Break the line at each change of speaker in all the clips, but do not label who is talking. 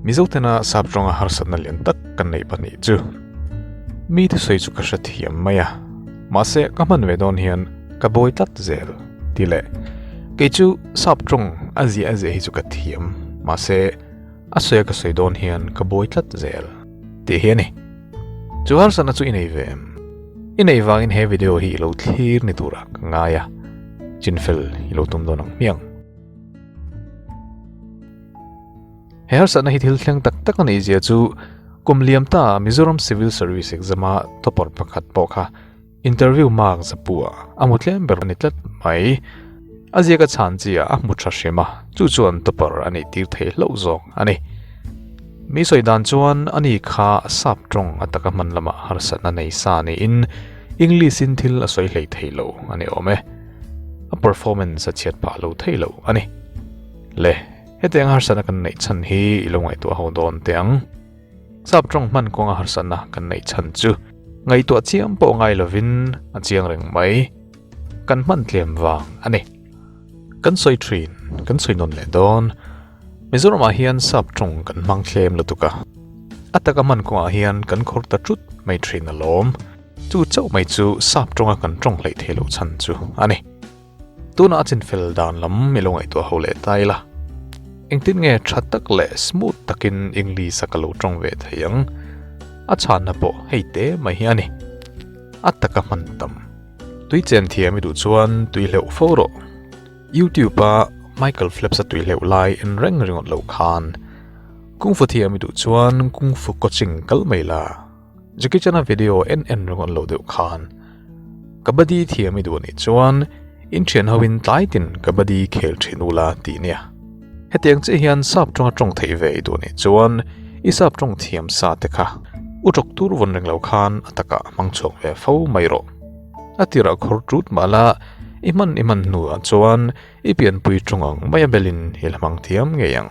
Mizo tena sap ronga harsatna lian tak kan neih pahnih chu mi te sawi chu ka hre thiam mai a, mahse ka hman ve dawn hian ka bawi tlat zel ti leh kei chu sap rawng a ziah a ziah hi chu ka thiam mahse a sawi a ka sawi dawn hian ka bawi tlat zel tih hi a ni. Chu harsatna chu i nei ve em? I neih vangin he video hi i lo thlir ni tura ka ngai a, chinfel i lo tum dawn ang hmiang. He harsatna hi thil thleng tak tak a nih zia chu kum liam ta Mizoram Civil Service exam a topper pakhat pawh kha interview mark zapua a mu tlem ber a ni tlat mai a ziaka chhan chia a hmu tha hrima chu chuan topper a nih tir thei hlo zawk a ni mi sawi dan chuan ani kha a sap tawng a taka hman lama harsatna nei sa ni in English in thil a sawi hlei thei lo a ni awm e a performance a chhiat phah lo thei lo a ni. Le, heti anga harsatna kan neih chhan hi i lo ngaihtuah ho dawn teh ang. Sap tawng hman kawnga harsatna kan neih chhan chu ngaihtuah chiam pawh ngai lovin a chiang reng mai, kan hman tlem vang a ni. Kan sawi thin, kan sawi nawn leh dawn, Mizoramah hian sap tawng kan hmang thlem lutuk a, a taka hman kawngah hian kan khawr ta ṭut mai thin a lawm. Chu chauh mai chu sap tawnga kan tawng hlei thei loh chhan chu a ni. Tunah a chinfel dan lam i lo ngaihtuah ho leh ta ila. Engtin nge tha tak leh smooth takin English-a ka lo tawng ve thei ang? A chhanna pawh hei te mai hi a ni. A taka hman tam. Tui chen thiam i duh chuan tui hleuh fo rawh. Youtube-a Michael Phelps-a tui hleuh lai en reng ringawt loh khan kung fu thiam i duh chuan kung fu coaching kal mai la. Jackie Chan a video en en ringawn lo deuh khan kabaddi thiam i duh nih chuan in thian ho in tlai tin kabaddi khel thin ula ti nia hetiang che hian sap tanga tawng thei ve i duh nih chuan i sap tawng thiam sa te kha u tawk tur vun ring lo khan ataka mang chhuak ve fo mai ro atira khur tut mala i man i man hnu ah chuan i pian pui tawng ang mai a belin i hlamang thiam ngei ang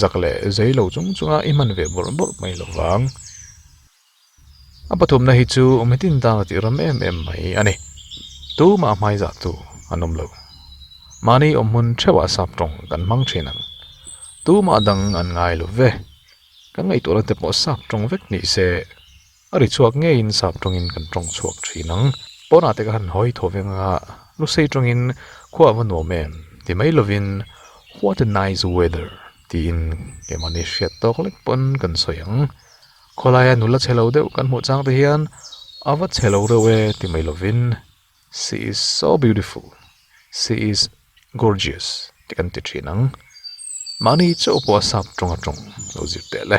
Zak leh zei lo chung chunga i hman ve bawrh bawrh mai lo vang. A pathumna hi chu mi tin tana tih ram em em mai a ni. Tumah hmaizah tu an awm lo. Mahni awm hmun theuhah sap tawng kan hmang thin ang. Tumah dang an ngai lo ve. Ka ngaihtuah late pawh sap tawng vek ni se A ri chhuak ngeiin sap tawngin kan tawng chhuak thin ang. Pawnah te ka han hawi thaw vek anga lu sei tawngin khuaa va nuam em ti mai lovin What a nice weather tiin kehmahni hriat tawk lek pawn kan sawi ang. Khawlaia nula chhe lo deuh kan hmuh chang te hian A va chhe lo reuh e ti mai lovin. She is so beautiful, she is gorgeous tih kan ti thin ang. Mahni chauh pawh a sap tawnga tawng lo zir teh le.